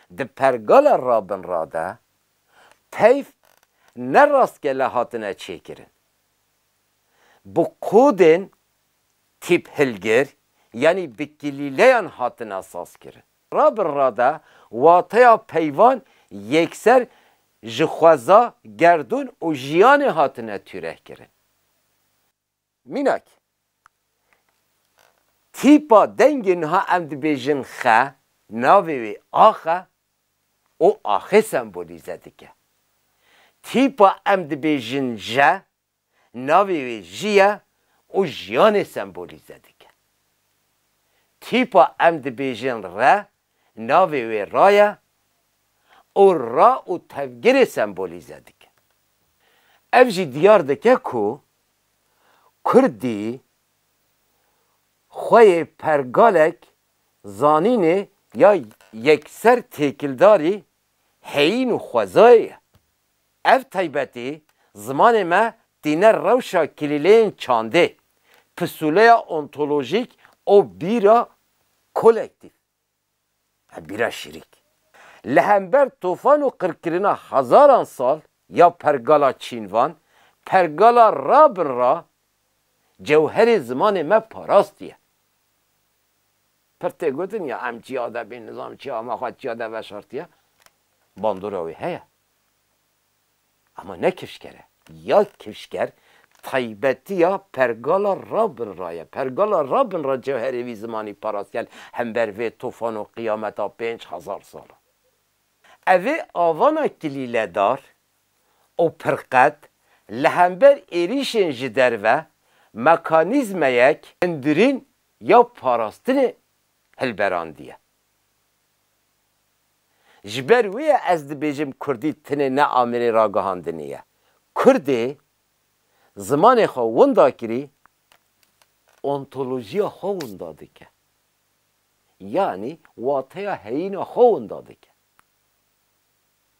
Di pergala rabinra de teyf ne rastgele hatine çêkirin. Bi kodên tîp hilgir yanî bi kilîleyan hatine sazkirin. Rabinra de wateya peyvan yekser ji xweza, gerdûn û jiyanê hatine tûrehkirin. Mînak, tîpa dengê niha em dibêjin xe, navê wê ax e û axê sembolîze dike. Tîpa em dibêjin je, navê wê jî ye û jiyanê sembolîze dike. Tîpa em dibêjin re, navê wê ra ye û ra û tevgirê sembolîze dike. Ev jî diyar dike ku kurdî xwe yê pergalek zanînê ya yekser têkildarî heyîn û xwezayê ye. Ev taybetî zimanê me tîne rewşa kilîleyên çandê, pisûleya ontolojîk û bîra kolektîf. Tebîra şirîk, li hember tofan û qirkirina hezaran sal ya pergala çînvan, pergala rabin ra cewherê zimanê me parastiye. Pir tê gotin ya em çiya de bîn, nizam çiya me xwe çiya de veşartiye, bandora wê heye. Ama ne kifşker e. Ya kifşker taybetiya pergala rabin ra ye. Pergala rabin ra cewherê vî zimanî parastel hember vê tofan û qiyameta pênc hezar sal a. Ev ê avana kilîledar û pirqet li hember êrîşên ji derve mekanîzmeyek hundirîn ya parastinê hilberandiye. Ji ber wê ye ez dibêjim kurdî tenê ne amêrê ragihandinê ye. Kurdê zimanê xwe winda kirî, ontolojiya xwe winda dike. Yanî wateya heyîna xwe winda dike.